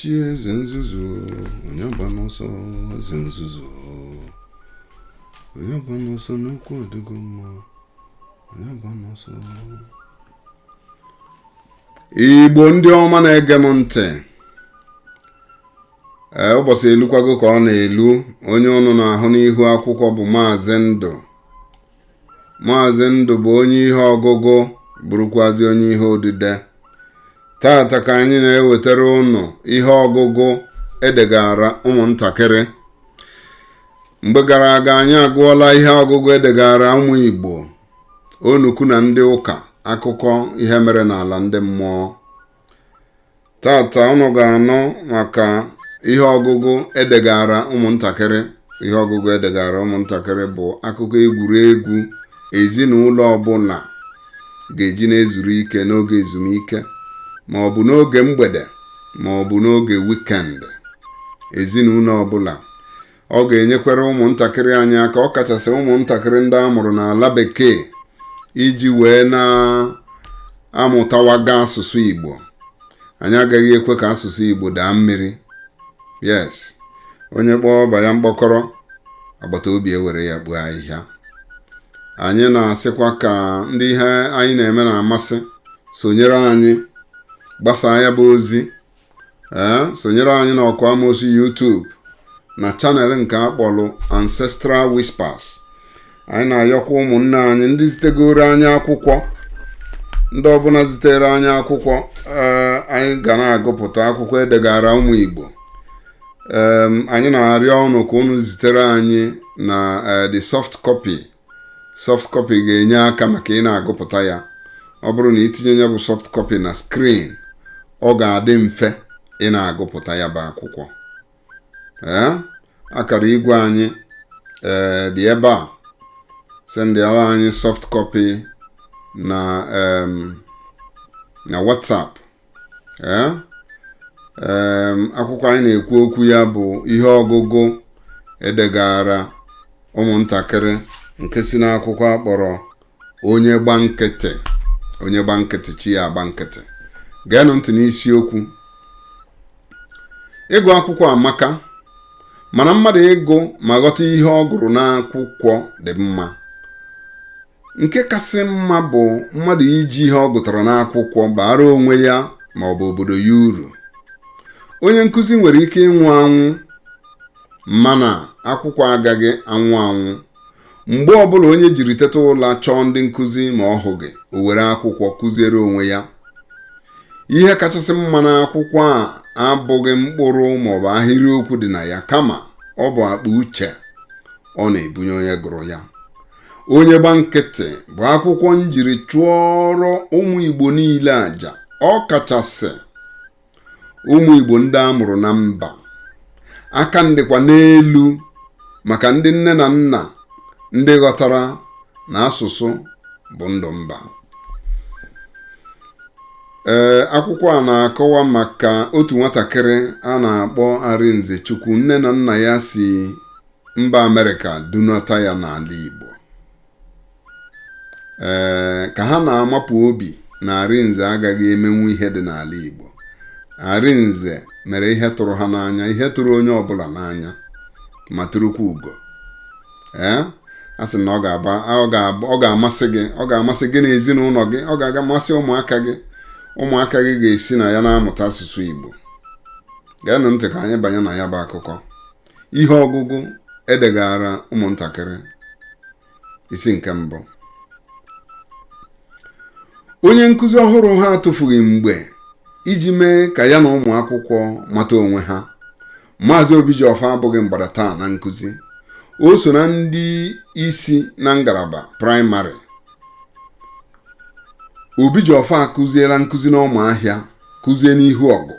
chi eze nzuzu onye gba n'ọsọ eze nzuzu onye gba n'ọsọ n'okwu ọdịgo mma onye gba n'ọsọ igbo ndị ọma na-ege m ntị ee ụbọsị elukwago ka ọ na-elu onye ụnụ na-ahụ n'ihu akwụkwọ bụ maazị ndụ maazị ndụ bụ onye ihe ọgụgụ bụrụkwazi onye ihe odide tata ka anyị na-ewetara ụnụ ihe ọgụgụ e degaara ụmụntakịrị mgbe gara aga anyị agụọla ihe ọgụgụ e degaara ụmụ igbo onukwu na ndị ụka akụkọ ihe mere n'ala ndị mmụọ tata ụnụ ga-anụ maka ihe ọgụgụ e degaara ụmụntakịrị ihe ọgụgụ e degaara ụmụntakịrị bụ akụkọ egwuregwu ezinụlọ ọbụla ga-eji na-ezuru ike n'oge ezumike ma ọ bụ n'oge mgbede ma ọ bụ n'oge weekend ezinụlọ ọbụla ọ ga-enyekwara ụmụntakịrị anyị aka ọ kachasị ụmụntakịrị ndị a mụrụ n'ala bekee iji wee na-amụtawaga asụsụ Igbo anyị agaghị ekwe ka asụsụ Igbo daa mmiri yes onye kpọọ ọba ya mkpọkọrọ agbata obi ewere ya kpoo ahịhịa anyị na-asịkwa ka ndị ihe anyị na-eme na-amasị sonyere anyị gbasaa ya bụ ozi ee sonyere anyị na ọkụ amosu YouTube na channel nke a kpọlụ Ancestral Whispers anyị na-ayọkwa ụmụnne anyị ndị zitegooro anyị akwụkwọ ndị ọbụla zitere anyị akwụkwọ ee anyị ga na-agụpụta akwụkwọ e degaara ụmụ Igbo em anyị na-arịọ unu ka unu zitere anyị na eh, the soft copy soft copy ga-enye aka maka ị na-agụpụta ya ọ bụrụ na i tinye ya bụ soft copy na screen ọ ga-adị mfe ị na-agụpụta ya bụ akwụkwọ ee akara igwe anyị ee dị ebe a sendịara anyị soft copy na em, na WhatsApp ee em, akwụkwọ anyị na-ekwu okwu ya bụ ihe ọgụgụ e degaara ụmụntakịrị nke si n'akwụkwọ a kpọrọ onye gba nkịtị onye gba nkịtị chi ya agba nkịtị geenụ ntị n'isiokwu ịgụ akwụkwọ amaka mana mmadụ ịgụ ma ghọta ihe ọ gụrụ n'akwụkwọ dị mma nke kasị mma bụ mmadụ iji ihe ọ gụtara n'akwụkwọ baara onwe ya ma ọ bụ obodo ya uru onye nkụzi nwere ike ịnwụ anwụ mana akwụkwọ agaghị anwụ anwụ mgbe ọbụla onye jiri teta ụla chọọ ndị nkụzi ma ọ hụghị o were akwụkwọ kụziere onwe ya ihe kachasị mma n'akwụkwọ a abụghị mkpụrụ maọbụ ahịrịokwu dị na ya kama ọ bụ akpa uche ọ na-ebunye onye gụrụ ya onye gba nkịtị bụ akwụkwọ m jiri chụọrọ ụmụ igbo niile aja ọ kachasị ụmụ igbo ndị a mụrụ na mba aka m dịkwa n'elu maka ndị nne na nna ndị ghọtara na asụsụ bụ ndụ mba ee akwụkwọ a na-akọwa maka otu nwatakịrị a na-akpọ arinzechukwu nne na nna ya si mba amerịka dunata ya n'ala igbo ee ka ha na-amapụ obi na arinze agaghị emenwu ihe dị n'ala igbo arinze mere ihe tụrụ ha n'anya ihe tụrụ onye ọbụla n'anya ma turukwa ugo ee a sị na ọ ga-aba ọ ga-aba ọ ga-amasị gị ọ ga-amasị gị na ezinụlọ gị ọ ga-amasị ụmụaka gị ụmụaka gị ga-esi na ya na-amụta asụsụ igbo geenụ ntị ka anyị banye na ya bụ akụkọ ihe ọgụgụ e degaara ụmụntakịrị isi nke mbụ onye nkụzi ọhụrụ ha atụfughị mgbe iji mee ka ya na ụmụ akwụkwọ mata onwe ha maazị obijiọfọ abụghị mgbada taa na nkụzi o so na ndị isi na ngalaba praịmarị obijiọfọ akụziela nkụzi n'ụmụahịa kụzie n'ihu ọgụ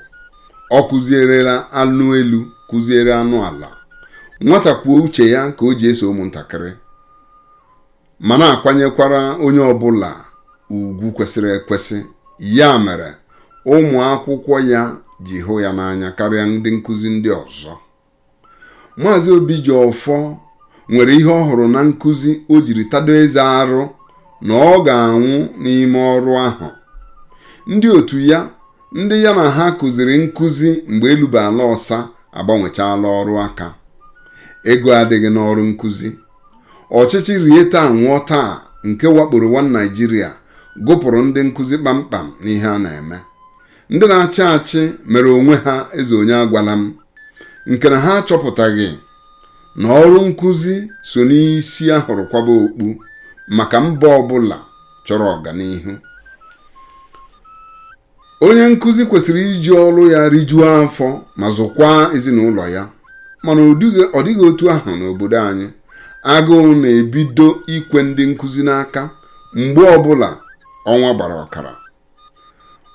ọ kụzierela anụ elu kụziere anụ ala nwata kwuo uche ya ka o ji eso ụmụntakịrị ma na-akwanyekwara onye ọbụla ugwu kwesịrị ekwesị ya mere ụmụ akwụkwọ ya ji hụ ya n'anya karịa ndị nkụzi ndị ọzọ maazị obijiọfọ nwere ihe ọ hụrụ na nkụzi o jiri tado eze arụ na ọ ga-anwụ n'ime ọrụ ahụ ndị otu ya ndị ya na ha kụziri nkụzi mgbe elu bụ ala ọsa agbanwechaala ọrụ aka ego adịghị n'ọrụ nkụzi ọchịchị rie taa nwụọ taa nke wakporo nwa naịjirịa gụpụrụ ndị nkụzi kpamkpam n'ihe a na-eme ndị na-achị achị mere onwe ha eze onye agwala m nke na ha achọpụtaghị na ọrụ nkụzi so n'isi a hụrụ kwaba okpu maka mba ọbụla chọrọ ọganihu onye nkụzi kwesịrị iji ọrụ ya rijuo afọ ma zụkwaa ezinụlọ ya mana ọ dịghị otu ahụ n'obodo anyị agụụ na-ebido ikwe ndị nkụzi n'aka mgbe ọbụla ọnwa gbara ọkara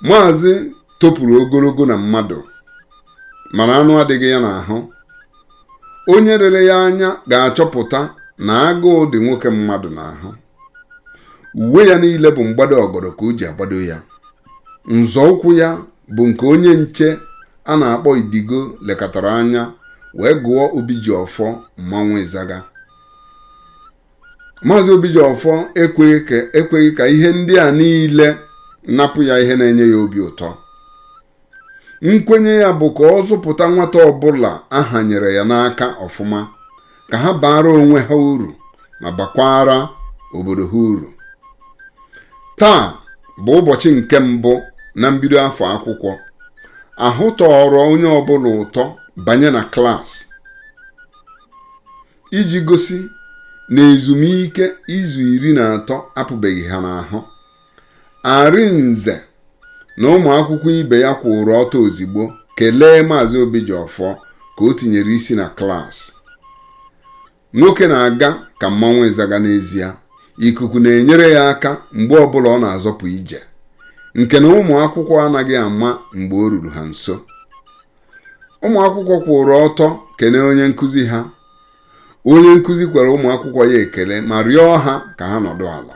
maazị topụrụ ogologo na mmadụ mana anụ adịghị ya n'ahụ onye lere ya anya ga-achọpụta na agụụ dị nwoke mmadụ n'ahụ uwe ya niile bụ mgbado ọgọdọ ka o ji agbado ya nzọụkwụ ya bụ nke onye nche a na-akpọ idigo lekatara anya wee gụọ obijiọfọ mmanwụ ịzaga maazị obijiọfọ ekweghị ka ihe ndị a niile napụ ya ihe na-enye ya obi ụtọ nkwenye ya bụ ka ọ zụpụta nwata ọbụla a hanyere ya n'aka ọfụma ka ha baara onwe ha uru ma bakwaara obodo ha uru taa bụ ụbọchị nke mbụ na mbido afọ akwụkwọ ahụ tọrọ onye ọbụla ụtọ banye na klaasị iji gosi na ezumike izu iri na atọ apụbeghị ha n'ahụ Arinze na ụmụ akwụkwọ ibe ya kwụrụ ọtọ ozigbo kelee maazị Obijiọfọ ka o tinyere isi na klaasị nwoke na-aga ka mmanwụ ịzaga n'ezie ikuku na-enyere ya aka mgbe ọbụla ọ na-azọpụ ije nke na ụmụ akwụkwọ anaghị ama mgbe o ruru ha nso ụmụ akwụkwọ kwụrụ ọtọ kene onye nkụzi ha onye nkụzi kwere ụmụ akwụkwọ ya ekele ma rịọ ha ka ha nọdụ ala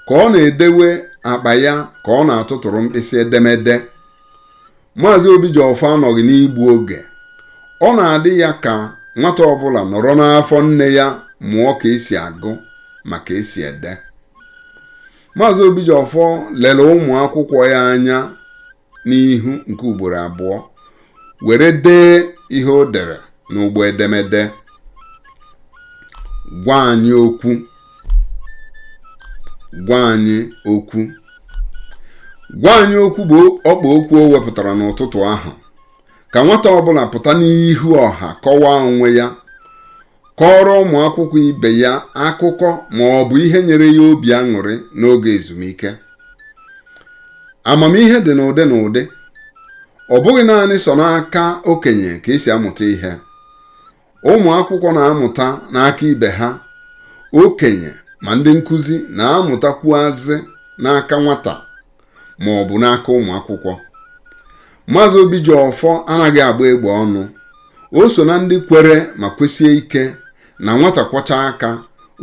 ka ọ na-edewe akpa ya ka ọ na-atụtụrụ mkpịsị edemede maazị obijiọfọ anọghị n'igbu oge ọ na-adị ya ka nwata ọbụla nọrọ n'afọ nne ya mụọ ka esi agụ ma ka esi ede maazị obijiọfọ lere ụmụ akwụkwọ ya anya n'ihu nke ugboro abụọ were dee ihe o dere n'ụgbọ edemede gwa anyị okwu gwa anyị okwu gwa anyị okwu bụ ọkpa okwu o wepụtara n'ụtụtụ ahụ ka nwata ọbụla pụta n'ihu ọha kọwaa onwe ya kọọrọ ụmụ akwụkwọ ibe ya akụkọ ma ọ bụ ihe nyere ya obi aṅụrị n'oge ezumike amamihe dị n'ụdị n'ụdị ọ bụghị naanị sọ n'aka okenye ka esi amụta ihe ụmụ akwụkwọ na-amụta n'aka ibe ha okenye ma ndị nkụzi na-amụtakwuazị n'aka nwata ma ọ bụ n'aka ụmụ akwụkwọ maazị Obijiọfọ anaghị agba egbe ọnụ o so na ndị kwere ma kwesie ike na nwata kwọchaa aka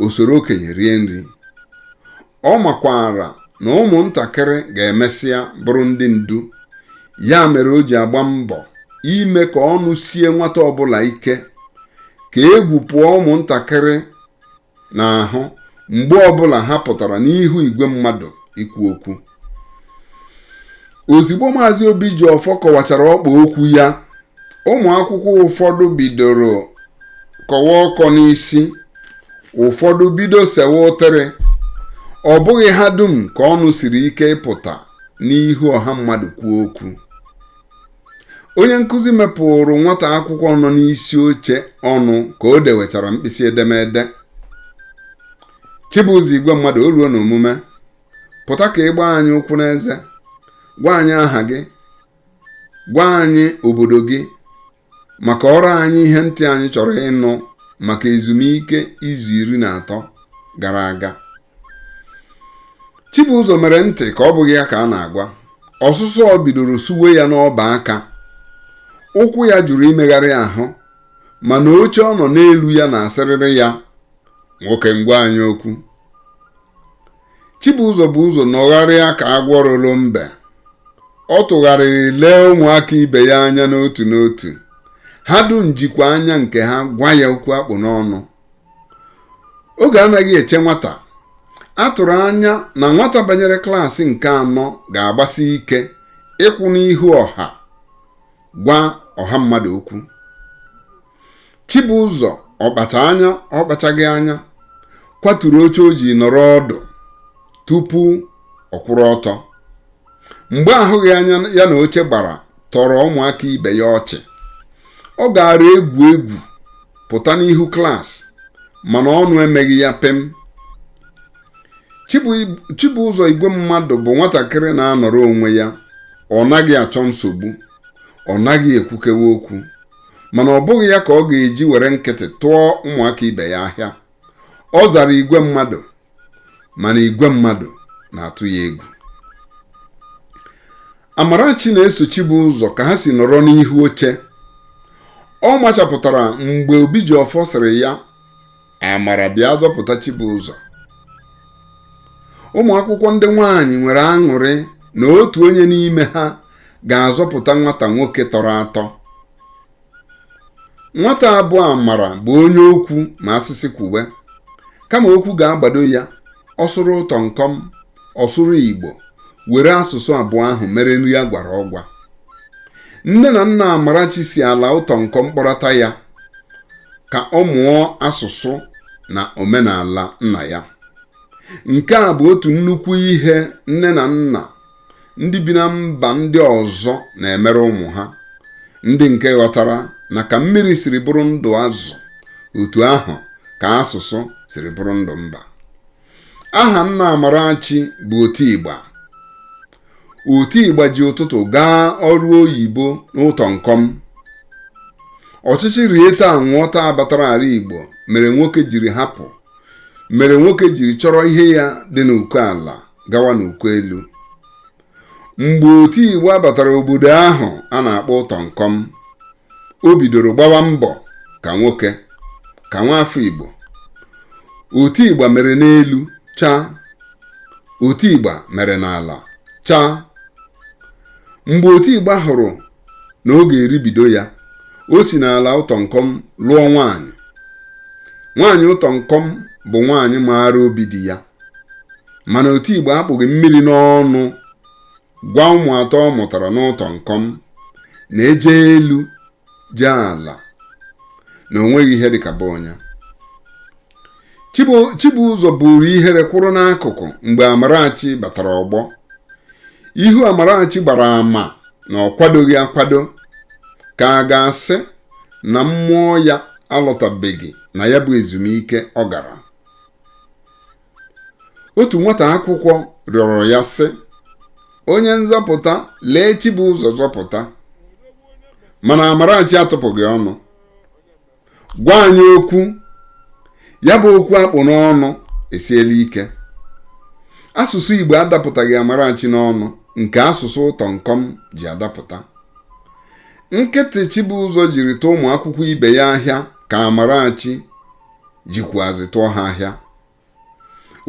o soro okenye rie nri ọ makwara na ụmụntakịrị ga-emesịa bụrụ ndị ndu ya mere o ji agba mbọ ime ka ọnụ sie nwata ọbụla ike ka egwu pụọ ụmụntakịrị n'ahụ mgbe ọbụla ha pụtara n'ihu igwe mmadụ ikwu okwu ozigbo maazị Obijiọfọ kọwachara ọkpa okwu ya ụmụ akwụkwọ ụfọdụ bidoro kọwa ọkọ n'isi ụfọdụ bido sewe ụtịrị ọ bụghị ha dum ka ọnụ siri ike ịpụta n'ihu ọha mmadụ kwuo okwu onye nkụzi mepụrụ nwata akwụkwọ nọ n'isi oche ọnụ ka o dewechara mkpịsị edemede Chibụzọ Igwemmadụ o ruo n'omume pụta ka ị gbaa anyị ụkwụ n'eze gwa anyị aha gị gwa anyị obodo gị ma kọọrọ anyị ihe ntị anyị chọrọ ịnụ maka ezumike izu iri na atọ gara aga Chibụzọ mere ntị ka ọ bụghị ya ka a na-agwa ọsụsọọ bidoro suwe ya n'ọba aka ụkwụ ya jụrụ imegharị ahụ mana oche ọ nọ n'elu ya na-asịrịrị ya nwoke m gwa anyị okwu Chibụzọ bu ụzọ nọgharịa ka agwọ loro mbe ọ tụgharịrị lee ụmụaka ibe ya anya n'otu n'otu ha dum jikwa anya nke ha gwa ya okwu a kpụ n'ọnụ oge anaghị eche nwata a tụrụ anya na nwata banyere klaasị nke anọ ga-agbasi ike ịkwụ n'ihu ọha gwa ọha mmadụ okwu Chibụzọ ọ kpacha anya ọ kpachaghị anya kwaturu oche o ji nọrọ ọdụ tupu ọ kwụrụ ọtọ mgba ahụghị anya ya na oche gbara tọrọ ụmụaka ibe ya ọchị ọ gaara egwu egwu pụta n'ihu klaasị mana ọnụ emeghị ya pịm Chibụzọ Igwemmadụ bụ nwatakịrị na-anọrọ onwe ya ọ naghị achọ nsogbu ọ naghị ekwukewe okwu mana ọ bụghị ya ka ọ ga-eji were nkịtị tụọ ụmụaka ibe ya ahịa ọ zara Igwemmadụ mana igwe mmadụ na-atụ ya egwu Amarachi na-eso Chibụzọ ka ha si nọrọ n'ihu oche ọ machapụtara mgbe Obijiọfọ sịrị ya Amara bịa zọpụta Chibụzọ ụmụ akwụkwọ ndị nwaanyị nwere aṅụrị na otu onye n'ime ha ga-azọpụta nwata nwoke tọrọ atọ nwata a bụ Amara bụ onye okwu ma a sị sị kwuwe kama okwu ga-agbado ya ọ sụrụ ụtọnkọm ọ sụrụ igbo were asụsụ abụọ ahụ mere nri a gwara ọgwa nne na nna amarachi si ala ụtọ nkọm kpọrọta ya ka ọ mụọ asụsụ na omenala nna ya nke a bụ otu nnukwu ihe nne na nna ndị bi na mba ndị ọzọ na-emere ụmụ ha ndị nke ghọtara na ka mmiri siri bụrụ ndụ azụ otu ahụ ka asụsụ siri bụrụ ndụ mba aha nna Amarachi bụ Otigba Otigba ji ụtụtụ gaa ọrụ oyibo n'ụtọ nkọm ọchịchị rie taa nwụọ taa batara ala Igbo mere nwoke jiri hapụ mere nwoke jiri chọrọ ihe ya dị n'uko ala gawa n'uko elu mgbe Otigba batara obodo ahụ a na-akpọ ụtọ nkọm o bidoro gbawa mbọ ka nwoke ka nwa afọ igbo Otigba mere n'elu chaa Otigba mere n'ala chaa mgbe Otigba hụrụ na ọ ga-eribido ya o si n'ala ụtọ nkọm lụọ nwaanyị nwaanyị ụtọ nkọm bụ nwaanyị maara obi di ya mana Otigba akpụghị mmiri n'ọnụ gwa ụmụ atọ ọ mụtara n'ụtọ nkọm na eje elu jee ala na onweghị ihe dịka be onye Chibụzọ buru ihere kwụrụ n'akụkụ mgbe Amarachi batara ọgbọ ihu Amarachi gbara ama na ọ kwadoghị akwado ka a ga-asị na mmụọ ya alọtabeghị na ya bụ ezumike ọ gara otu nwata akwụkwọ rịọrọ ya sị onye nzọpụta lee chibụzọ zọpụta mana amarachi atụpụghị ọnụ gwa anyị okwu ya bụ okwu akpụ n'ọnụ esiela ike asụsụ igbo adapụtaghị amarachi n'ọnụ nke asụsụ ụtọ nkọm ji adapụta nkịtị chibụzọ jiri tụọ ụmụ akwụkwọ ibe ya ahịa ka amarachi jikwuazị tụọ ha ahịa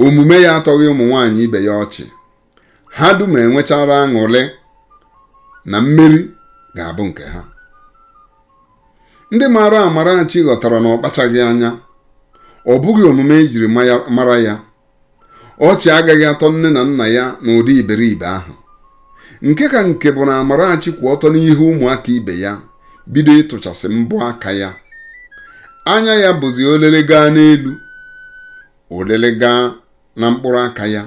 omume ya atọghị ụmụ nwaanyị ibe ya ọchị ha dum enwechara aṅụrị na mmeri ga-abụ nke ha ndị maara Amarachi ghọtara na ọ kpachaghị anya ọ bụghị omume ejiri mara ya ọchị agaghị atọ nne na nna ya n'ụdị iberibe ahụ nke ka nke bụ na Amarachi kwụ ọtọ n'ihu ụmụaka ibe ya bido ịtụchasị mbọ aka ya anya ya bụzi olele gaa n'elu olele gaa na mkpụrụ aka ya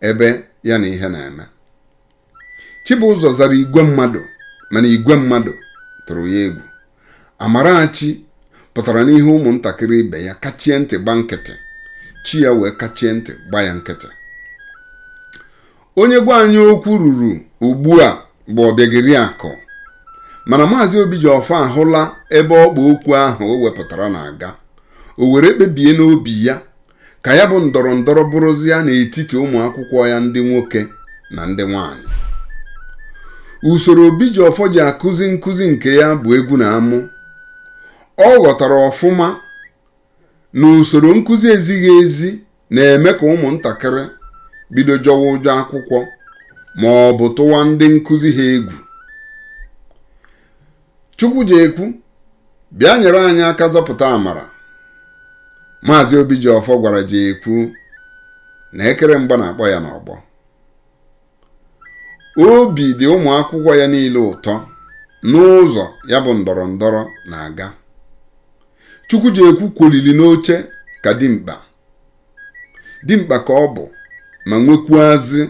ebe ya na ihe na-eme Chibụzọ zara igwe mmadụ mana igwe mmadụ tụrụ ya egwu Amarachi pụtara n'ihu ụmụntakịrị ibe ya kachie ntị gba nkịtị chi ya wee kachie ntị gba ya nkịtị onye gwa anyị okwu ruru ugbu a bụ Ọbịageriakụ mana maazị Obijiọfọ ahụla ebe ọkpa okwu ahụ o wepụtara na-aga o were kpebie n'obi ya ka ya bụ ndọrọ ndọrọ bụrụzịa n'etiti ụmụ akwụkwọ ya ndị nwoke na ndị nwanyị usoro Obijiọfọ ji akụzi nkụzi nke ya bụ egwu na amụ ọ ghọtara ọfụma na usoro nkụzi ezighị ezi na-eme ka ụmụntakịrị bido jọwa ụjọ akwụkwọ ma ọ bụ tụwa ndị nkụzi ha egwu Chukwujekwu bịa nyere anyị aka zọpụta amara maazị Obijiọfọ gwara Jekwu na ekere mgba na-akpọ ya n'ọgbọ obi dị ụmụ akwụkwọ ya niile ụtọ n'ụzọ ya bụ ndọrọ ndọrọ na-aga Chukwujekwu kwolili n'oche ka dimkpa dimkpa ka ọ bụ ma nwekwuazị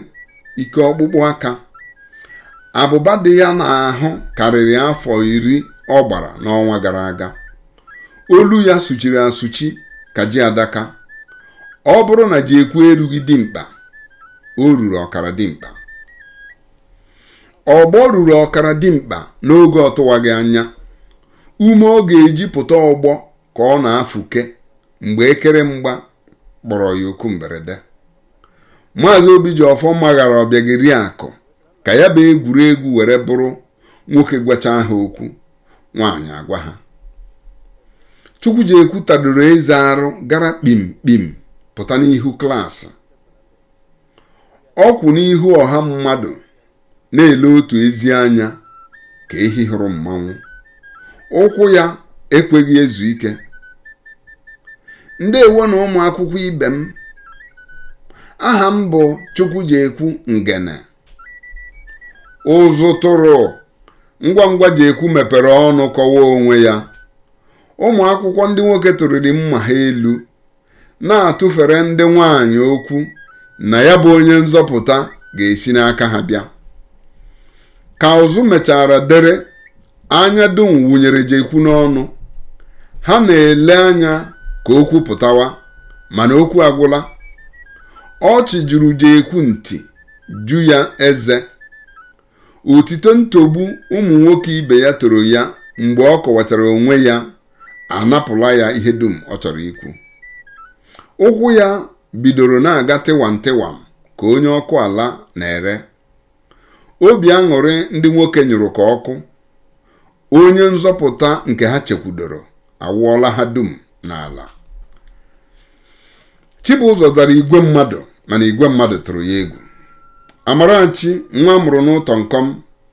ike ọkpụkpụ aka abụba dị ya n'ahụ karịrị afọ iri ọ gbara n'ọnwa gara aga olu ya sụchiri asụchi ka ji adaka ọ bụrụ na Jekwu erughị dimkpa o ruru ọkara dimkpa ọgbọ ruru ọkara dimkpa n'oge ọ tụwaghị anya ume ọ ga-eji pụta ọgbọ ka ọ na-afụke mgbe ekere mgba kpọrọ ya oku mberede maazị obijiọfọ maghara Ọbịageriakụ ka ya bụ egwuregwu were bụrụ nwoke gwacha ha okwu nwaanyị agwa ha Chukwujekwu tadoro eze arụ gara kpim kpim pụta n'ihu klaasị ọ kwụ n'ihu ọha mmadụ na-ele otu ezi anya ka ehi hụrụ mmanwụ ụkwụ ya ekweghị ezu ike ndewo nụ ụmụ akwụkwọ ibe m aha m bụ chukwujekwu ngene ụzụ tụrụ ngwa ngwa jekwu mepere ọnụ kọwaa onwe ya ụmụ akwụkwọ ndị nwoke tụrịrị mma ha elu na-atụfere ndị nwanyị okwu na ya bụ onye nzọpụta ga-esi n'aka ha bịa ka ụzụ mechara dere anya dum wụnyere jekwu n'ọnụ ha na-ele anya ka okwu pụtawa mana okwu agwụla ọchị juru jekwu nti ju ya eze otito ntogbu ụmụ nwoke ibe ya toro ya mgbe ọ kọwatara onwe ya anapụla ya ihe dum ọ chọrọ ikwu ụkwụ ya bidoro na-aga tịwam tịwam ka onye ọkụ ala na-ere obi aṅụrị ndị nwoke nyụrụ ka ọkụ onye nzọpụta nke ha chekwudoro awụọla ha dum n'ala Chibụzọ zara igwe mmadụ mana igwe mmadụ tụrụ ya egwu Amarachi nwa a mụrụ n'Ụtọnkọm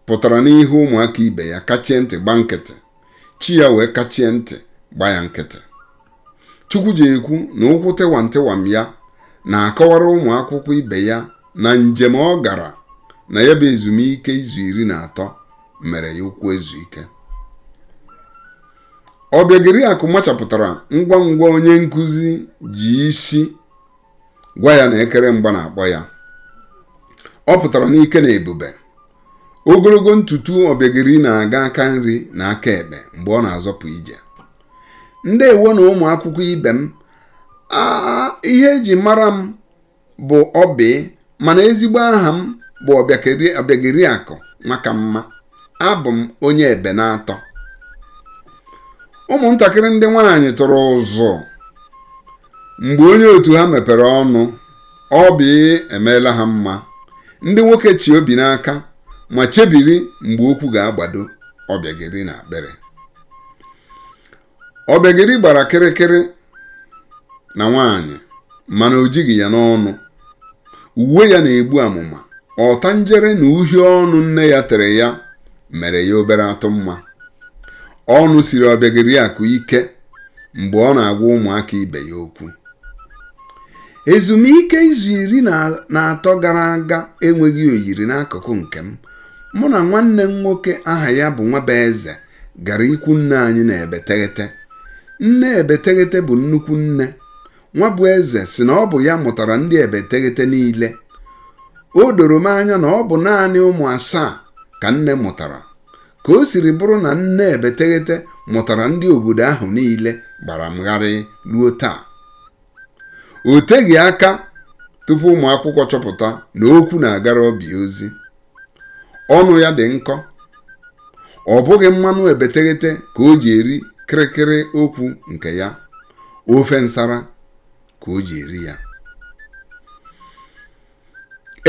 pụtara n'ihu ụmụaka ibe ya kachie ntị gba nkịtị chi ya wee kachie ntị gba ya nkịtị Chukwujekwu na ụkwụ tịwam tịwam ya na-akọwara ụmụ akwụkwọ ibe ya na njem ọ gara na ya bụ ezumike izu iri na atọ mere ya ụkwụ ezu ike Ọbịageriakụ machapụtara ngwa ngwa onye nkụzi ji isi gwa ya na ekere mgba na-akpọ ya ọ pụtara n'ike na ebube ogologo ntutu Ọbịageri na-aga aka nri na aka ekpe mgbe ọ na-azọpụ ije ndewo nụ ụmụ akwụkwọ ibe m a ihe eji mara m bụ Ọbị mana ezigbo aha m bụ Ọbịageriakụ Nwakamma abụ m onye Ebenatọ ụmụntakịrị ndị nwaanyị tụrụ ụzụ mgbe onye otu ha mepere ọnụ Ọbị emeela ha mma ndị nwoke chị obi n'aka ma chebiri mgbe okwu ga-agbado Ọbịageri na akpịrị Ọbịageri gbara kịrịkịrị na nwaanyị mana o jighị ya n'ọnụ uwe ya na-egbu amụma ọtanjere na uhie ọnụ nne ya tere ya mere ya obere atụ mma ọnụ siri Ọbịageriakụ ike mgbe ọ na-agwa ụmụaka ibe ya okwu ezumike izu iri na atọ gara aga enweghị oyiri n'akụkụ nke m mụ na nwanne m nwoke aha ya bụ Nwabụeze gara ikwu nne anyị na Ebeteghete nne Ebeteghete bụ nnukwu nne Nwabụeze sị na ọ bụ ya mụtara ndị Ebeteghete niile o doro m anya na ọ bụ naanị ụmụ asaa ka nne mụtara ka o siri bụrụ na nne Ebeteghete mụtara ndị obodo ahụ niile gbara m gharị ruo taa o teghị aka tupu ụmụ akwụkwọ chọpụta na okwu na-agara Ọbị ozi ọnụ ya dị nkọ ọ bụghị mmanụ Ebeteghete ka o ji eri kịrịkịrị okwu nke ya ofe nsara ka o ji eri ya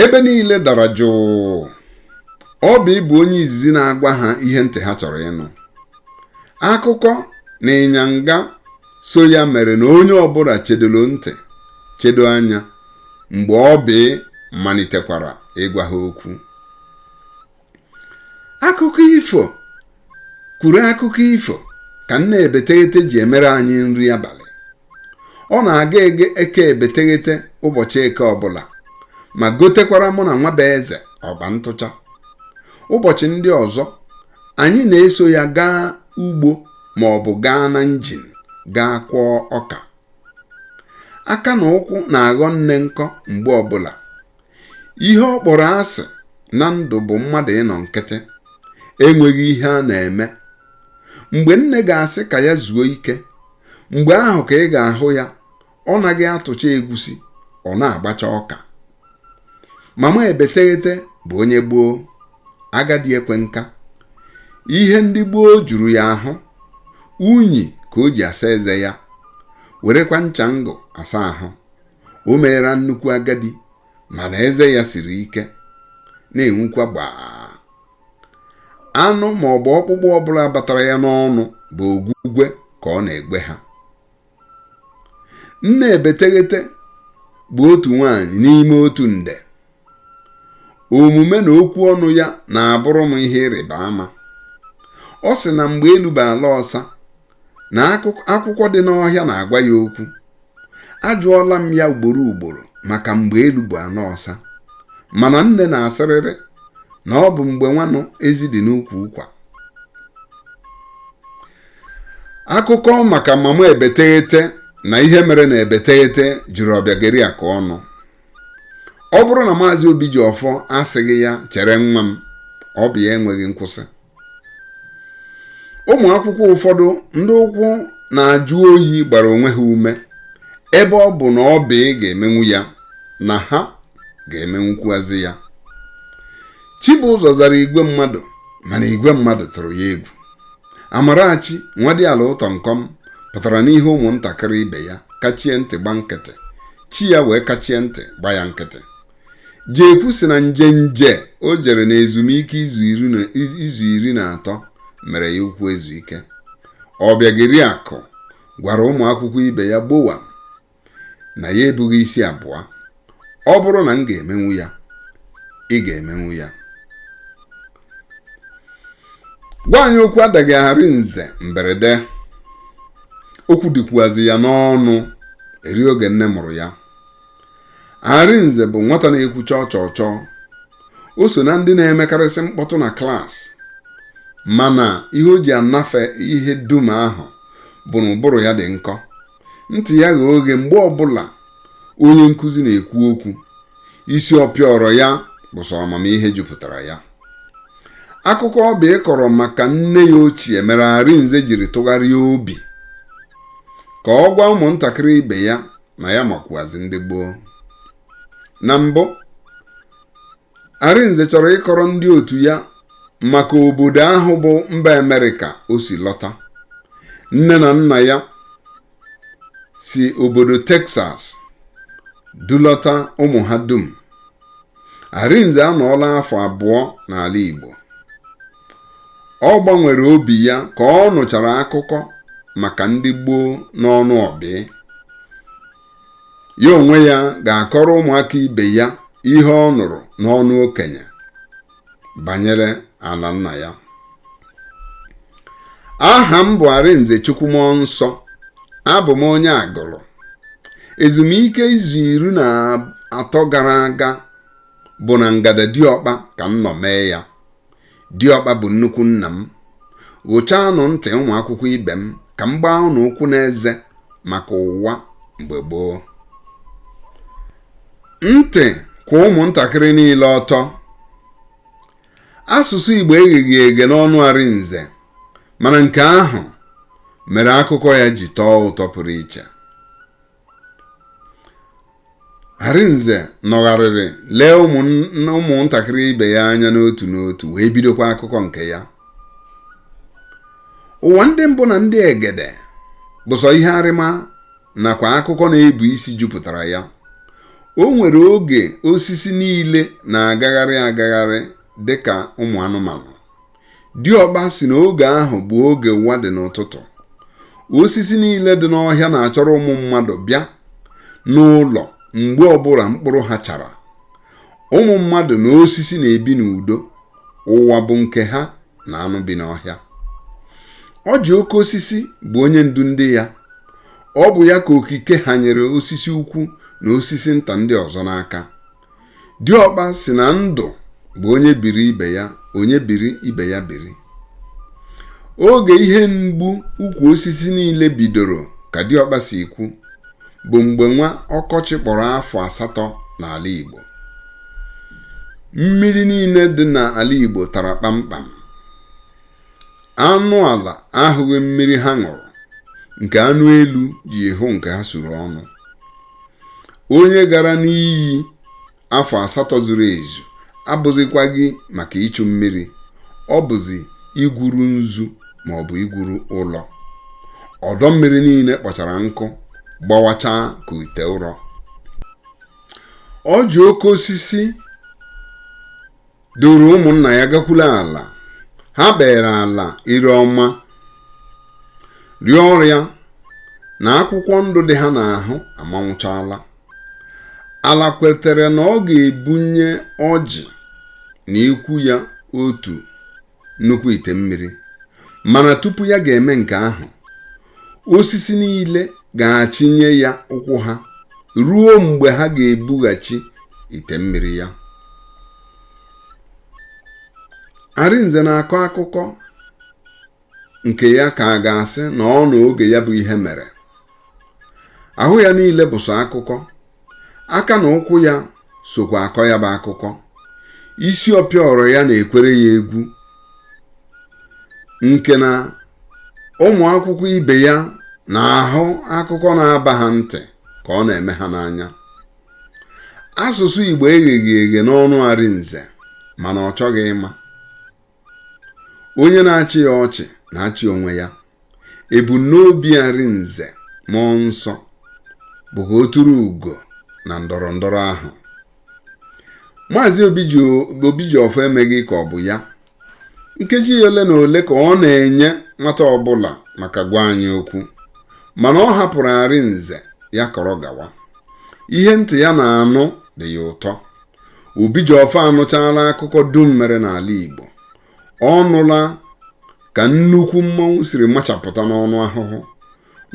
ebe niile dara jụụ Ọbị bụ onye izizi na-agwa ha ihe ntị ha chọrọ ịnụ akụkọ na ịnyanga so ya mere na onye ọbụla chedoro ntị chedo anya mgbe Ọbị malitekwara ịgwa ha okwu akụkọ ifo kwuru akụkọ ifo ka nne ebeteghete ji emere anyị nri abalị ọ na-aga ege eke ebeteghete ụbọchị eke ọbụla ma gotekwara mụ na Nwabueze ọgba ntụcha ụbọchị ndị ọzọ anyị na-eso ya gaa ugbo ma ọ bụ gaa na njin gaa kwọọ ọka aka na ụkwụ na-aghọ nne nkọ mgbe ọbụla ihe ọ kpọrọ asị na ndụ bụ mmadụ ịnọ nkịtị enweghị ihe a na-eme mgbe nne ga-asị ka ya zuo ike mgbe ahụ ka ị ga-ahụ ya ọ naghị atụcha egwusi ọ na-agbacha ọka mama ebeteghete bụ onye gboo agadi ekwe nka ihe ndị gboo juru ya ahụ unyi ka o ji asa eze ya werekwa ncha ngụ asa ahụ o meera nnukwu agadi mana eze ya siri ike na-enwukwa gbaa anụ ma ọ bụ ọkpụkpụ ọbụla batara ya n'ọnụ bụ ogwugwe ka ọ na-egwe ha nne ebeteghete bụ otu nwaanyị n'ime otu nde omume na okwu ọnụ ya na-abụrụ m ihe ịrịba ama ọ sị na mgbe elu bụ ala ọsa na akwụkwọ dị n'ọhịa na-agwa ya okwu ajụọla m ya ugboro ugboro maka mgbe elu bụ ala ọsa mana nne na-asịrịrị na ọ bụ mgbe nwanụ ezi dị n'ukwu ụkwa akụkọ maka mama ebeteghete na ihe mere na ebeteghete juru Ọbịageriakụ ọnụ ọ bụrụ na maazị Obijiọfọ asịghị ya chere nwa m ọ bụ ya enweghị nkwụsị ụmụ akwụkwọ ụfọdụ ndị ụkwụ na-ajụ oyi gbara onwe ha ume ebe ọ bụ na Ọbị ga-emenwu ya na ha ga-emenwukwuazị ya Chibụzọ zara igwe mmadụ mana igwe mmadụ tụrụ ya egwu Amarachi Nwadiala Ụtọnkọm pụtara n'ihu ụmụntakịrị ibe ya kachie ntị gba nkịtị chi ya wee kachie ntị gba ya nkịtị Jekwu sị na njenje o jere na ezumike izu iri na atọ mere ya ụkwụ ezu ike Ọbịageriakụ gwara ụmụ akwụkwọ ibe ya gbowam na ya ebughị isi abụọ ọ bụrụ na m ga-emenwu ya ị ga-emenwu ya gwa anyị okwu adaghị Arinze mberede okwu dịkwuazị ya n'ọnụ eri oge nne mụrụ ya Arinze bụ nwata na-ekwu chọọ chọọ chọọ o so na ndị na-emekarịsị mkpọtụ na klaasị mana ihe o ji anafe ihe dum ahụ bụ na ụbụrụ ya dị nkọ ntị ya ghe oghe mgbe ọbụla onye nkụzi na-ekwu okwu isi ọpịọrọ ya bụ sọ amamihe jupụtara ya akụkọ Ọbịị kọrọ maka nne ya ochie mere Arinze jiri tụgharịa obi ka ọ gwa ụmụntakịrị ibe ya na ya makwuazi ndị gboo na mbụ Arinze chọrọ ịkọrọ ndị otu ya maka obodo ahụ bụ mba Amerịka o si lọta. Nne na nna ya si obodo Texas dulọta ụmụ ha dum. Arinze anọọla afọ abụọ n'ala Igbo. Ọ gbanwere obi ya ka ọ nụchara akụkọ maka ndị gboo n'ọnụ ọbịị. ya onwe ya ga-akọrọ ụmụaka ibe ya ihe ọ nụrụ n'ọnụ okenye banyere ala nna ya aha m bụ Arinze Chukwunọnsọ abụ m onye Agụlụ ezumike izu iri na atọ gara aga bụ na Ngada Diọkpa ka m nọ mee ya diọkpa bụ nnukwu nna m ghụchaanụ ntị ụmụ akwụkwọ ibe m ka m gbaa ụnụ ụkwụ n'eze maka ụwa mgbe gboo ntị kwụ ụmụntakịrị niile ọtọ asụsụ igbo egheghị eghe n'ọnụ arinze mana nke ahụ mere akụkọ ya ji tọọ ụtọ pụrụ iche Arinze nọgharịrị lee ụmụnn- ụmụntakịrị ibe ya anya n'otu n'otu wee bidokwa akụkọ nke ya ụwa ndị mbụ na ndị egede bụ sọ ihe arịma nakwa akụkọ na-ebu isi jupụtara ya o nwere oge osisi niile na-agagharị agagharị dị ka ụmụ anụmanụ diọkpa sị na oge ahụ bụ oge ụwa dị n'ụtụtụ osisi niile dị n'ọhịa na-achọrọ ụmụ mmadụ bịa n'ụlọ mgbe ọbụla mkpụrụ ha chara ụmụ mmadụ na osisi na-ebi n'udo ụwa bụ nke ha na anụ bi n'ọhịa ọjị oke osisi bụ onye ndu ndị ya ọ bụ ya ka okike ha nyere osisi ukwu na osisi nta ndị ọzọ n'aka diọkpa sị na ndụ bụ onye biri ibe ya onye biri ibe ya biri oge ihe mgbu ukwu osisi niile bidoro ka diọkpa si kwu bụ mgbe nwa ọkọchị kpọrọ afọ asatọ n'ala Igbo mmiri niile dị n'ala Igbo tara kpamkpam anụ ala ahụghị mmiri ha ṅụrụ nke anụ elu ji hụ nke ha suru ọnụ onye gara n'iyi afọ asatọ zuru ezu abụzikwaghị maka ichu mmiri ọ bụzi igwuru nzu ma ọ bụ igwuru ụrọ ọdọ mmiri niile kpọchara nkụ gbawachaa ka ite ụrọ ọjị oke osisi duru ụmụnna ya gakwuru ala ha kpere ala ire ọma rịọ ya na akwụkwọ ndụ dị ha n'ahụ amanwụchala ala kwetere na ọ ga-ebunye ọjị na ikwu ya otu nnukwu ite mmiri mana tupu ya ga-eme nke ahụ osisi niile ga-achịnye ya ụkwụ ha ruo mgbe ha ga-ebughachi ite mmiri ya Arinze na-akọ akụkọ nke ya ka a ga-asị na ọ nọ oge ya bụ ihe mere ahụ ya niile bụ sọ akụkọ aka na ụkwụ ya sokwa akọ ya bụ akụkọ isi ọpịọrọ ya na-ekwere ya egwu nke na ụmụ akwụkwọ ibe ya na-ahụ akụkọ na-aba ha ntị ka ọ na-eme ha n'anya asụsụ Igbo egheghị eghe n'ọnụ Arinze mana ọ chọghị ịma onye na-achị ya ọchị na-achị onwe ya ebumnobi Arinze Mmụọnsọ bụ ka o turu ugo na ndọrọ ndọrọ ahụ maazị Obijiọfọ emeghị ka ọ bụ ya nkeji ole na ole ka ọ na-enye nwata ọbụla maka gwa anyị okwu mana ọ hapụrụ Arinze ya kọrọ gawa ihe ntị ya na-anụ dị ya ụtọ Obijiọfọ anụchaala akụkọ dum mere n'ala Igbo ọ nụla ka nnukwu mmọnwụ siri machapụta n'ọnụ ahụhụ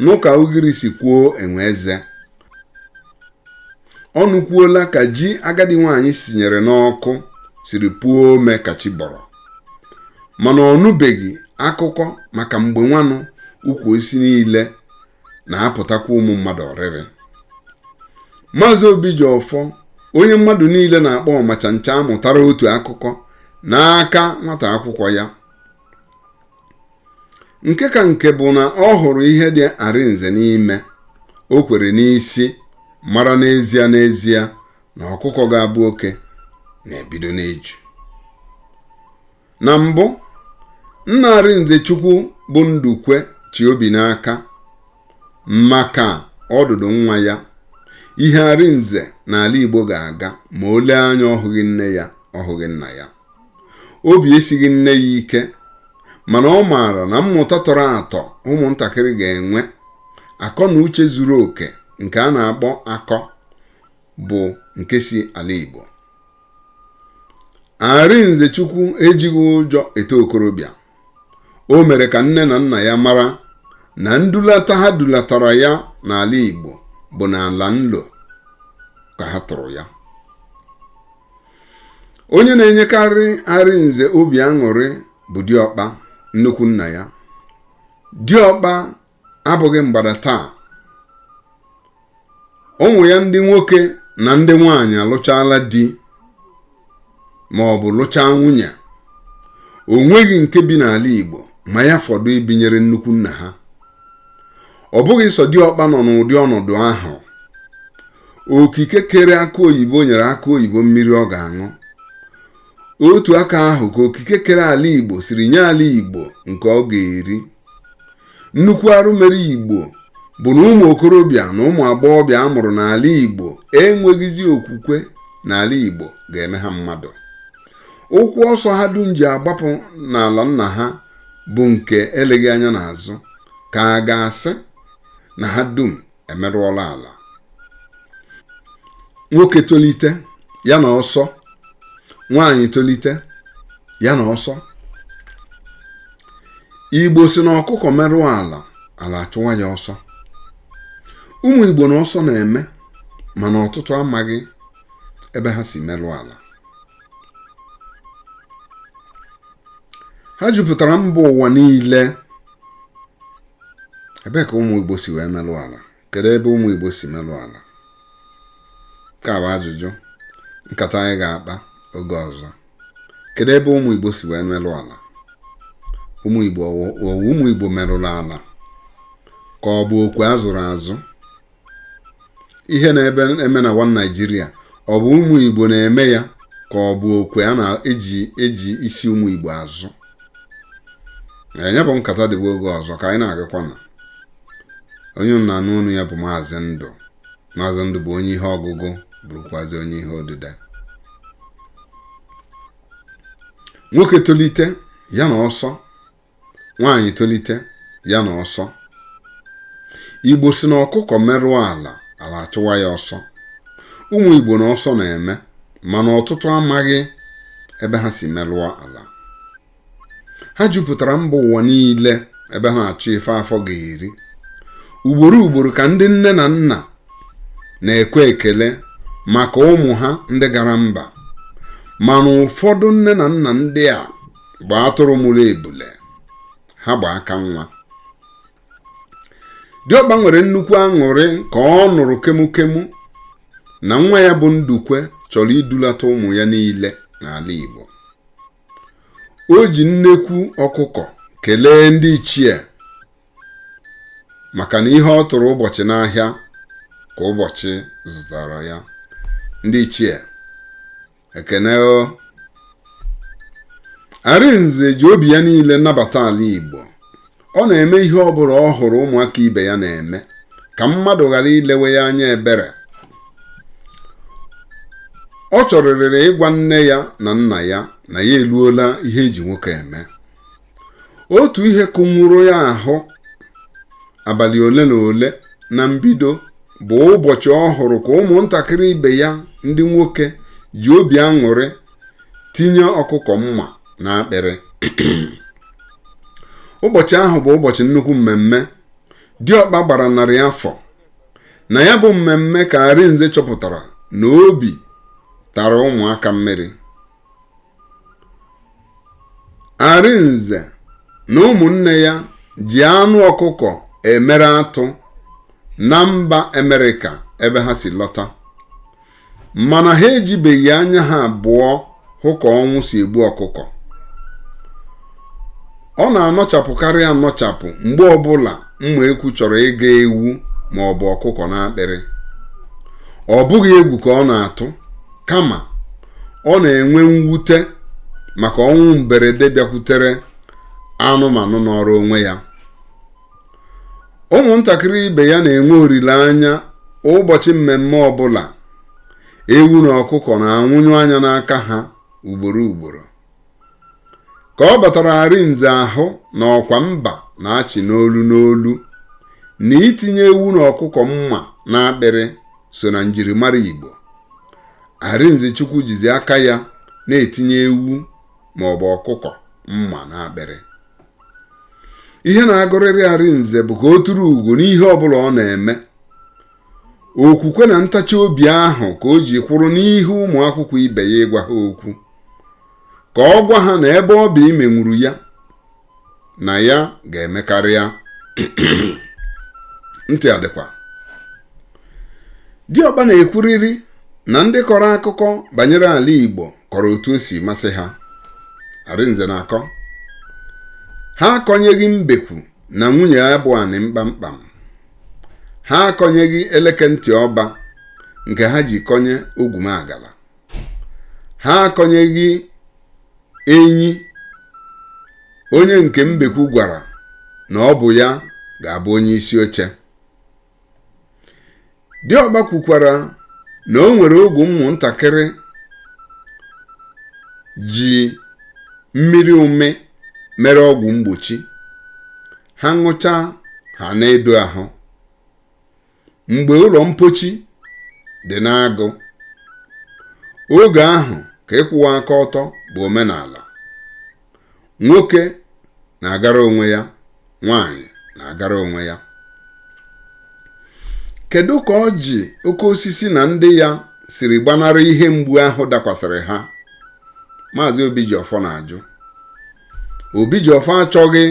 nụ ka ugiri si kwuo enwe eze ọ nụkwuola ka ji agadi nwaanyị sinyere n'ọkụ siri puo ome ka chi bọrọ mana ọ nụbeghị akụkọ maka mgbe nwanụ ukwu osisi niile na-apụtakwa ụmụ mmadụ oriri maazị Obijiọfọ onye mmadụ niile na-akpọ ọmachancha mụtara otu akụkọ n'aka nwata akwụkwọ ya nke ka nke bụ na ọ hụrụ ihe dị Arinze n'ime o kwere n'isi mara n'ezie n'ezie na ọkụkọ ga-abụ oke na-ebido n'eju na mbụ nna Arinzechukwu bụ Ndukwe chị obi n'aka maka ọdụdụ nwa ya ihe Arinze na ala Igbo ga-aga ma o lee anya ọ hụghị nne ya ọ hụghị nna ya obi esighị nne ya ike mana ọ maara na mmụta tọrọ atọ ụmụntakịrị ga-enwe akọ na uche zuru oke nke a na-akpọ akọ bụ nke si ala Igbo Arinzechukwu ejighị ụjọ eto okorobịa o mere ka nne na nna ya mara na ndulata ha dulatara ya n'ala Igbo bụ n'ala nlo ka ha tụrụ ya onye na-enyekarị Arinze obi aṅụrị bụ diọkpa nnukwu nna ya diọkpa abụghị mgbada taa ụmụ ya ndị nwoke na ndị nwaanyị alụchaala di ma ọ bụ lụchaa nwunye o nweghị nke bi n'ala Igbo ma ya fọdụ ibinyere nnukwu nna ha ọ bụghị sọ diọkpa nọ n'ụdị ọnọdụ ahụ okike kere akụ oyibo nyere akụ oyibo mmiri ọ ga-aṅụ otu aka ahụ ka okike kere ala Igbo siri nye ala Igbo nke ọ ga-eri nnukwu arụ mere igbo bụ na ụmụ okorobịa na ụmụ agbọghọbịa a mụrụ n'ala igbo enweghịzi okwukwe na ala igbo ga-eme ha mmadụ ụkwụ ọsọ ha dum ji agbapụ n'ala nna ha bụ nke eleghị anya n'azụ ka a ga-asị na ha dum emerụọla ala nwoke tolite ya na ọsọ nwaanyị tolite ya na ọsọ igbo sị na ọkụkọ merụọ ala ala achụwa ya ọsọ ụmụ igbo na ọsọ na-eme mana ọtụtụ amaghị ebe ha si merụọ ala ha jupụtara mba ụwa niile ebee ka ụmụ Igbo si wee melụ ala kedu ebe ụmụ Igbo si melụ ala nke a bụ ajụjụ nkata anyị ga-akpa oge ọzọ kedu ebe ụmụ Igbo si wee melụ ala ụmụ Igbo merụrụ ala ka ọ bụ okwe a zụrụ azụ ihe na-eme eme na one Nigeria ọ bụ ụmụ Igbo na-eme ya ka ọ bụ okwe a na-eji isi ụmụ Igbo azụ nya bụ nkata dịbụ oge ọzọ ka anyị na-agakwa na onye na-anụ ọnụ ya bụ maazị ndụ maazị ndụ bụ onye ihe ọgụgụ bụrụkwazi onye ihe odide nwoke tolite ya na ọsọ nwaanyị tolite ya na ọsọ igbo sị na ọkụkọ merụọ ala ala achụwa ya ọsọ ụmụ igbo na ọsọ na-eme mana ọtụtụ amaghị ebe ha si merụọ ala ha jupụtara mba ụwa niile ebe ha na-achụ ife afọ ga-eri ugboro ugboro ka ndị nne na nna na-ekwe ekele maka ụmụ ha ndị gara mba mana ụfọdụ nne na nna ndị a bụ atụrụ mụrụ ebule ha gba aka nwa diọkpa nwere nnukwu aṅụrị ka ọ nụrụ kemukemu na nwa ya bụ ndukwe chọrọ idulata ụmụ ya niile n'ala igbo o ji nnekwu ọkụkọ kelee ndị ichie maka na ihe ọ tụrụ ụbọchị n'ahịa ka ụbọchị zụtara ya ndị ichie ekene o arinze ji obi ya niile nabata ala igbo ọ na-eme ihe ọ bụla ọ hụrụ ụmụaka ibe ya na-eme ka mmadụ ghara ilewe ya anya ebere ọ chọrịrịrị ịgwa nne ya na nna ya na ya eluola ihe e ji nwoke eme otu ihe kụnwụrụ ya ahụ abalị ole na ole na mbido bụ ụbọchị ọ hụrụ ka ụmụntakịrị ibe ya ndị nwoke ji obi aṅụrị tinye ọkụkọ mma n'akpịrị ụbọchị ahụ bụ ụbọchị nnukwu mmemme diọkpa gbara narị afọ na ya bụ mmemme ka arinze chọpụtara na obi tara ụmụaka mmiri arinze na ụmụnne ya ji anụ ọkụkọ emere atụ na mba amerịka ebe ha si lọta mana ha ejibeghị anya ha abụọ hụ ka ọnwụ si egbu ọkụkọ ọ na-anọchapụkarị anọchapụ mgbe ọbụla mma ekwu chọrọ ịga ewu ma ọ bụ ọkụkọ n'akpịrị ọ bụghị egwu ka ọ na-atụ kama ọ na-enwe mwute maka ọnwụ mberede bịakwutere anụmanụ nọọrụ onwe ya ụmụntakịrị ibe ya na-enwe olileanya ụbọchị mmemme ọbụla ewu na ọkụkọ na-anwụnyụ anya n'aka ha ugboro ugboro ka ọ batara arinze ahụ na ọkwa mba na-achị n'olu n'olu na itinye ewu na ọkụkọ mma n'akpịrị so na njirimara Igbo Arinzechukwu jizi aka ya na-etinye ewu ma ọ bụ ọkụkọ mma n'akpịrị ihe na-agụrịrị Arinze bụ ka o turu ugo n'ihe ọbụla ọ na-eme okwukwe na ntachi obi ahụ ka o ji kwụrụ n'ihu ụmụ akwụkwọ ibe ya ịgwa ha okwu ka ọ gwa ha na ebe ọ bụ imenwuru ya na ya ga-emekarị ya ntị adịkwa diọkpa na-ekwuriri na ndị kọrọ akụkọ banyere ala igbo kọrọ otu o si masị ha arinze na-akọ ha akọnyeghị mbekwu na nwunye ya bụ anịm kpamkpam ha akọnyeghị eleke ntị ọba nke ha ji kọnye ogwumagala ha akọnyeghị enyi onye nke mbekwu gwara na ọ bụ ya ga-abụ onye isi oche diọkpa kwukwara na o nwere oge ụmụntakịrị ji mmiri umi mere ọgwụ mgbochi ha ṅụcha ha na-edo ahụ mgbe ụlọ mpochi dị n'agụ oge ahụ ka ịkwụwa aka ọtọ bụ omenala nwoke na-agara onwe ya nwaanyị na-agara onwe ya kedu ka ọjị oke osisi na ndị ya siri gbanarị ihe mgbu ahụ dakwasịrị ha maazị obijiọfọ na-ajụ obijiọfọ achọghị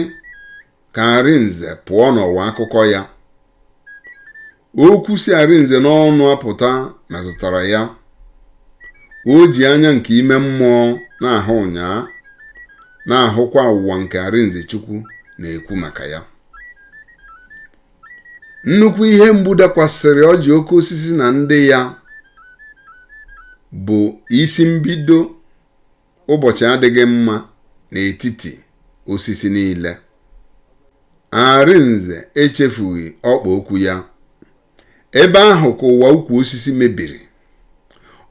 ka Arinze pụọ n'ụwa akụkọ ya okwu si Arinze n'ọnụ apụta metụtara ya o ji anya nke ime mmụọ na-ahụ ụnyaa na-ahụkwa ụwa nke Arinze Chukwu na-ekwu maka ya nnukwu ihe mgbu dakwasịrị ọjị oke osisi na ndị ya bụ isi mbido Ụbọchị adịghị mma n'etiti osisi niile. Arinze echefughị ọkpa okwu ya. Ebe ahụ ka ụwa ukwu osisi mebiri.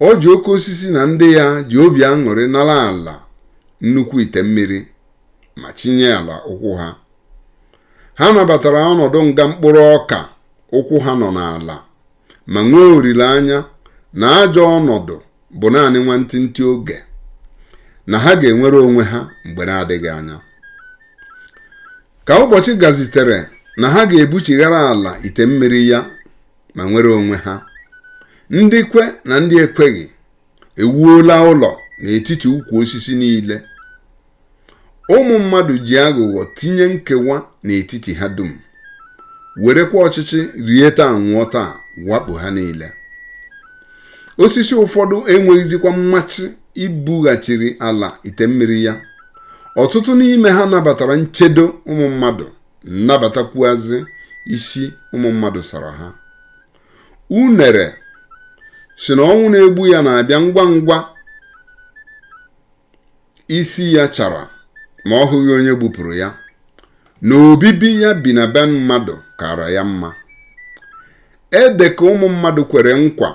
Ọjị oke osisi na ndị ya ji obi aṅụrị nara ala nnukwu ite mmiri ma chinye ala ụkwụ ha. Ha nabatara ọnọdụ nga mkpụrụ ọka ụkwụ ha nọ n'ala ma nwee olileanya na ajọ ọnọdụ bụ naanị nwantịntị oge na ha ga-enwere onwe ha mgbe na-adịghị anya ka ụbọchị gazitere na ha ga-ebuchighara ala ite mmiri ya ma nwere onwe ha ndị kwe na ndị ekweghị ewuola ụlọ n'etiti ukwu osisi niile ụmụ mmadụ ji aghụghọ tinye nkewa n'etiti ha dum werekwa ọchịchị rie taa nwụọ taa wakpo ha niile osisi ụfọdụ enweghịzikwa mmachi ibughachiri ala ite mmiri ya ọtụtụ n'ime ha nabatara nchedo ụmụ mmadụ nabatakwuazị isi ụmụ mmadụ sara ha unere sị na ọnwụ na-egbu ya na-abịa ngwa ngwa isi ya chara ma ọ hụghị onye gbupụrụ ya na obibi ya bi na be mmadụ kara ya mma ede ka ụmụ mmadụ kwere nkwa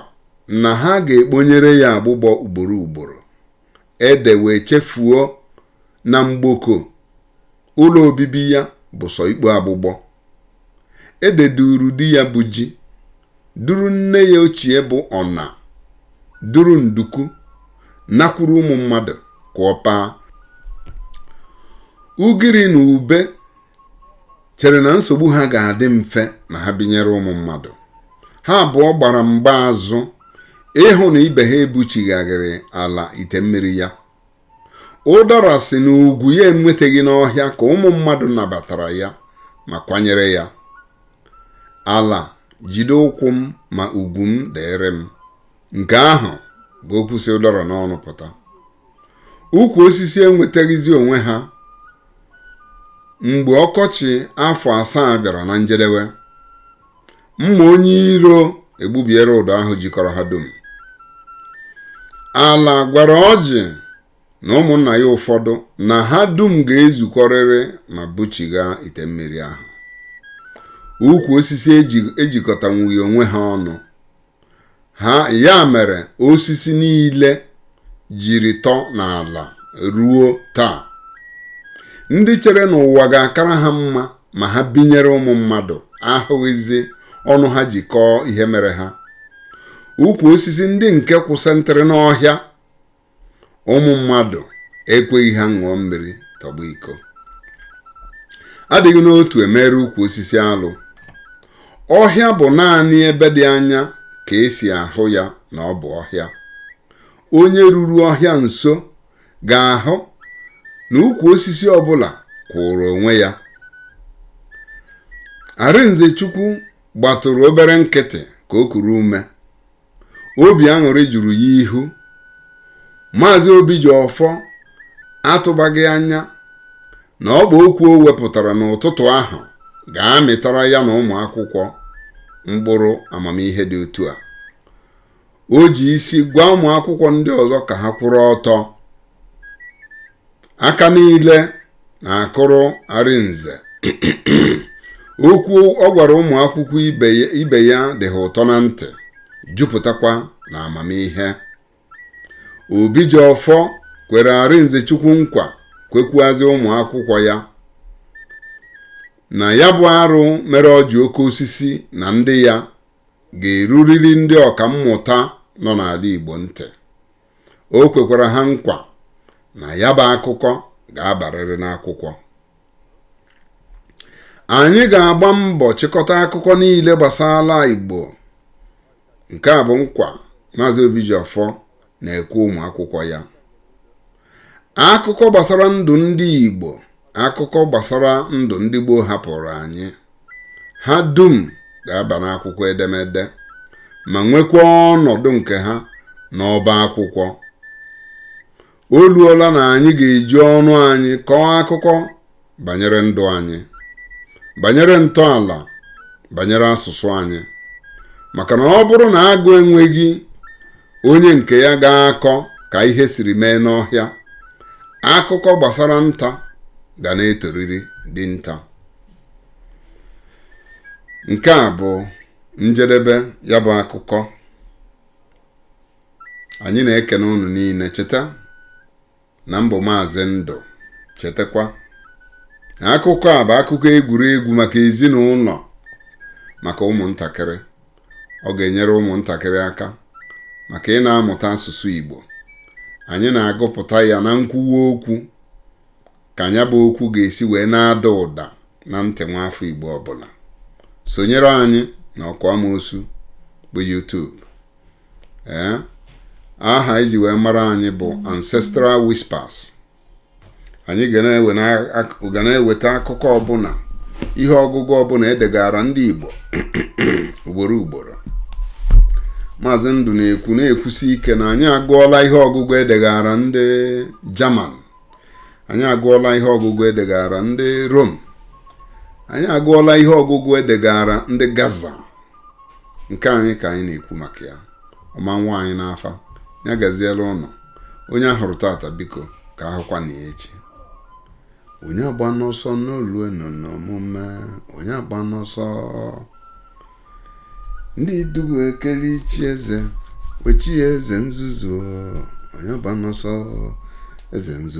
na ha ga-ekponyere ya agbụgbọ ugboro ugboro ede wee chefuo na mgboko ụlọ obibi ya bụ sọ ikpo agbụgbọ Ede duru di ya bụ ji, duru nne ya ochie bụ ọna, duru nduku, nakwuru ụmụ mmadụ ka ọ paa. Ugiri na ube chere na nsogbu ha ga-adị mfe ma ha binyere ụmụ mmadụ. Ha abụọ gbara mgba azụ ịhụ na ibe ha ebuchighaghịrị ala ite mmiri ya. ụdara sị na ugwu ya enwetaghị n'ọhịa ka ụmụ mmadụ nabatara ya ma kwanyere ya ala jide ụkwụ m ma ugwu m dịrị m nke ahụ bụ okwu si ụdara n'ọnụ pụta ukwu osisi enwetaghịzi onwe ha mgbe ọkọchị afọ asaa bịara na njedebe mma onye iro egbubiere ụdọ ahụ jikọrọ ha dum ala gwara ọjị na ụmụnna ya ụfọdụ na ha dum ga-ezukọrịrị ma buchigha ite mmiri ahụ ukwu osisi ejikọtanwughị onwe ha ọnụ ha ya mere osisi niile jiri tọ n'ala ruo taa ndị chere na ụwa ga-akara ha mma ma ha binyere ụmụ mmadụ ahụghịzi ọnụ ha ji kọọ ihe mere ha ukwu osisi ndị nke kwụsịntịrị n'ọhịa ụmụ mmadụ ekweghị ha ṅụọ mmiri tọgbọ iko adịghị n'otu emeere ukwu osisi alụ ọhịa bụ naanị ebe dị anya ka e si ahụ ya na ọ bụ ọhịa onye ruru ọhịa nso ga-ahụ na ukwu osisi ọbụla kwụụrụ onwe ya Arinze Chukwu gbatụrụ obere nkịtị ka o kuru ume obi aṅụrị juru ya ihu maazị Obijiọfọ atụbaghị anya na ọ bụ okwu o wepụtara n'ụtụtụ ahụ ga-amịtara ya na ụmụ akwụkwọ mkpụrụ amamihe dị otu a o ji isi gwa ụmụ akwụkwọ ndị ọzọ ka ha kwụrụ ọtọ aka niile na-akụrụ arinze okwu ọ gwara ụmụ akwụkwọ ibe ya dị ha ụtọ na ntị jupụtakwa na amamihe obijiọfọ kwere arinze chukwu nkwa kwekwuazị ụmụ akwụkwọ ya na ya bụ arụ mere ọjị oke osisi na ndị ya ga-eruriri ndị ọka mmụta nọ n'ala igbo ntị o kwekwara ha nkwa na ya bụ akụkọ ga-abarịrị n'akwụkwọ anyị ga-agba mbọ chịkọta akụkọ niile gbasara Igbo nke a bụ nkwa Maazị Obijiọfọ na-ekwe ụmụ akwụkwọ ya akụkọ gbasara ndụ ndị Igbo akụkọ gbasara ndụ ndị gboo hapụrụ anyị ha dum ga-aba n'akwụkwọ edemede ma nwekwa ọnọdụ nke ha n'ọba akwụkwọ o luola na anyị ga-eji ọnụ anyị kọọ akụkọ banyere ndụ anyị banyere ntọala banyere asụsụ anyị maka na ọ bụrụ na agụ enweghị onye nke ya ga-akọ ka ihe siri mee n'ọhịa akụkọ gbasara nta ga na-etoriri dinta nke a bụ njedebe ya bụ akụkọ anyị na-ekene unu niile cheta na m bụ maazị ndụ chetakwa na akụkọ a bụ akụkọ egwuregwu maka ezinụlọ maka ụmụntakịrị ọ ga-enyere ụmụntakịrị aka maka ị na-amụta asụsụ Igbo anyị na-agụpụta ya na nkwuwa okwu ka nya bụ okwu ga-esi wee na-ada ụda na ntị nwa afọ Igbo ọbụla sonyere anyị na ọkụ amoosu bụ YouTube ee aha e ji wee mara anyị bụ Ancestral Whispers anyị ga na-eweta akụkọ ọbụla ihe ọgụgụ ọbụla edegara ndị Igbo ugboro ugboro maazị ndụ na-ekwu na-ekwusi ike na anyị agụọla ihe ọgụgụ edegara ndị German anyị agụọla ihe ọgụgụ edegara ndị rom anyị agụọla ihe ọgụgụ edegara ndị gaza nke anyị ka anyị na-ekwu maka ya ọma nwa anyị n'afa ya gazielụ ụnụ onye ahụrụ tata biko ka ahụkwanụ ya echi onye agbana ọsọ n'olue n'omume onye agbana ọsọ ndị dubu ekele ichi eze wee chie eze nzuzu onye agbana ọsọ eze nzuzu